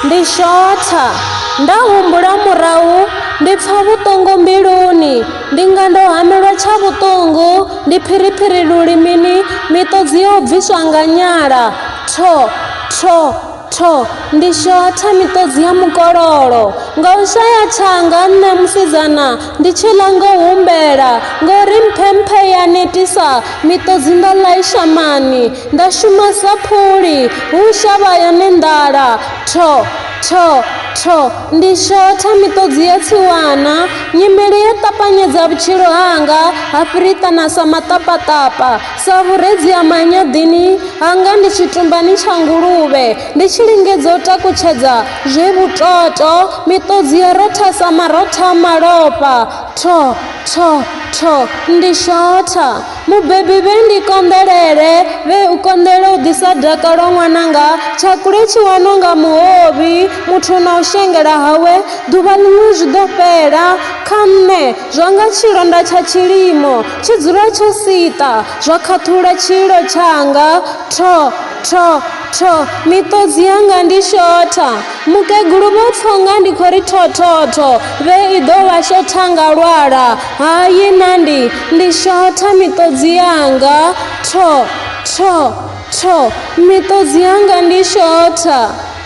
ndi shotha nda humbula murahu ndi pfa vhuṱungu mbiluni ndi nga ndo hamelwa tsha vhuṱungu ndi phiriphiri lulimini miṱodzi yo bviswa nga nyala tho tho Tho! Ndi shotha miṱodzi ya mukololo. Nga u shaya thanga, nṋe musidzana ndi tshi ḽa ngo humbela, ngo ri mphemphe ya netisa, miṱodzi nda ḽa i shamani, nda shuma sa phuli, hu shavha yone nḓala. Tho! Tho! Tho! Ndi shotha miṱodzi ya tsiwana. Nyimele yo ṱapanyedza vhutshilo hanga, ha fhiriṱana sa maṱapaṱapa. Sa vhuredzi ha manyaḓini hanga ndi tshitumbani tsha nguluvhe, ndi tshi lingedza u takutshedza zwe vhutoto, miṱodzi ya rotha sa marotha a malofha. Tho! Tho! Tho! Ndi shotha. Mubebi vhe ndi konḓelele, vhe u konḓelela u ḓisa dakalo ṅwananga, tshakhule tshi wanwa nga muhovhi, muthu na u shengela hawe, ḓuvha ḽiṅwe zwi ḓo fhela. Kha nṋe, Zwa nga tshilonda tsha tshilimo tshi dzula tsho siṱa, zwa khaṱhula tshililo tshanga, Tho! Tho! Tho! Miṱodzi yanga ndi shotha. Mukegulu Vho Thonga ndi khou ri tho tho tho, vhe i ḓo vha shotha nga lwala. Hai na ndi, ndi shotha miṱodzi yanga, Tho! Tho! Tho! Miṱodzi yanga ndi shotha.